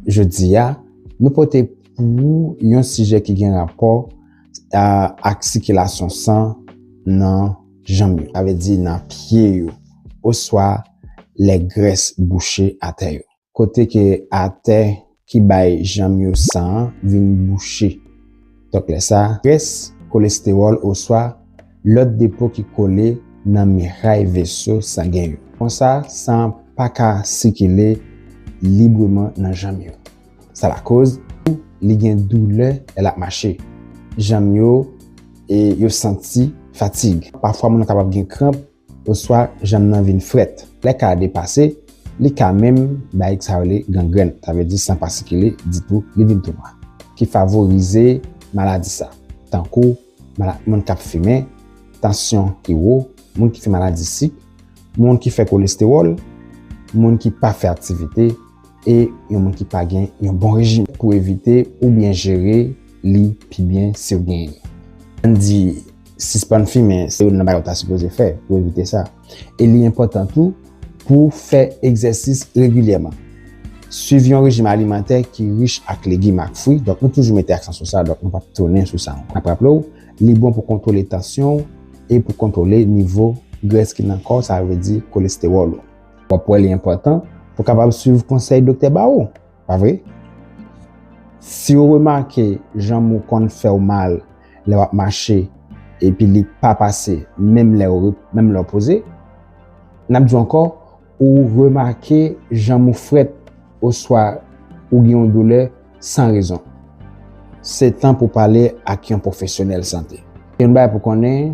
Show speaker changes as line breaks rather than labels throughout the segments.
Jodi a, nou pote pou ou yon sijè ki gen rapò ak sikilasyon san nan janm yo, sa vle di nan pye yo, oswa lè grès bouche atè yo. kote ke atè ki bay jèm yo san an vin bouche. Donk lè sa, grès, kolestewòl oswa lòt depo ki kole nan miray veso sangen yo. Konsa, san an pa ka sikile libreman nan jèm yo. Sa lakoz tou li gen doulè lè l ap mache. Jèm yo e yo santi fatig. Pafwa moun nan kapab gen kranp. oswa janm nan vin frèt. Lè ka a depase, li ka menm bay sa yo rele gangrèn, sa vle di san pa sikile ditou, li vin tou nwa, ki favorize maladi sa, tankou moun k ap fimen, tansyon ki wo, moun ki fè maladi sik, moun ki fè kolestewòl, moun ki pa fè aktivite e yon moun ki pa gen yon bon rejim. Pou evite oubyen jere li pi byen si w genyen li. Ann di. Sispann fimen se youn nan bagay ou ta sipoze fè pou evite sa. E li enpòtan tou pou w fè egzèsis regilyèman. Suiv yon rejim alimantè ki rich ak legim ak fwi, donk nou toujou mete aksan sou sa, donk nou pap tounen sou sa ankò. N ap raple w, li bon pou kontwole tansyon w e pou kontwole nivo grès ki nan kò w, sa vle di kolestewòl ou. W ap wè li enpòtan pou w kapab suiv konsèy doktè ba ou. Pa vre? Si ou remake janm ou konn fè ou mal lè w ap mache epi li pa pase menm lè w poze, n ap di w ankò ou remake janm ou frèt oswa ou gen yon doulè san rezon, se tan pou w pale ak yon pwofesyonèl sante. Yon bagay pou w konnen.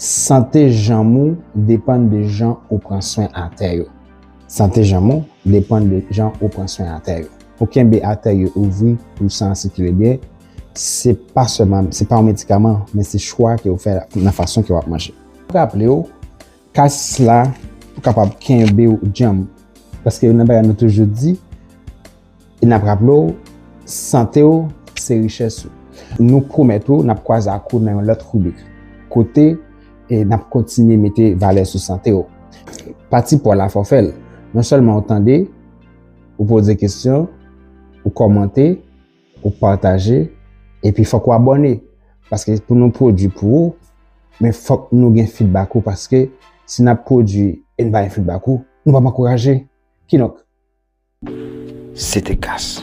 Sante janm ou depann de jan ou pran swen atè yo. Sante janm ou depann de jan ou pran swen atè yo. Pou kenbe atè yo ouvri pou san an sikile byen, se pa sèlman, se pa yon medikaman, men se chwa ke ou fè nan fason ke wap manje. Raple ou, kasis la pou kapab kenbe ou djanm, paske yon nan bagay nou toujou di, E nap raple w, sante w se richès ou. Nou pwomèt ou nap kwaze ak ou nan yon lòt ribrik kote nap kontinye mete valè sou sante w. Pati paw la fò fèl, non sèlman ou tande, ou poze kesyon, ou kòmante, ou pataje, epi fòk ou abòne paske pou nou pwodwi pou ou men fòk nou gen fidbak ou paske si nap pwodwi e n pa gen fidbak ou nou pap ankouraje kidonk. Se te kas.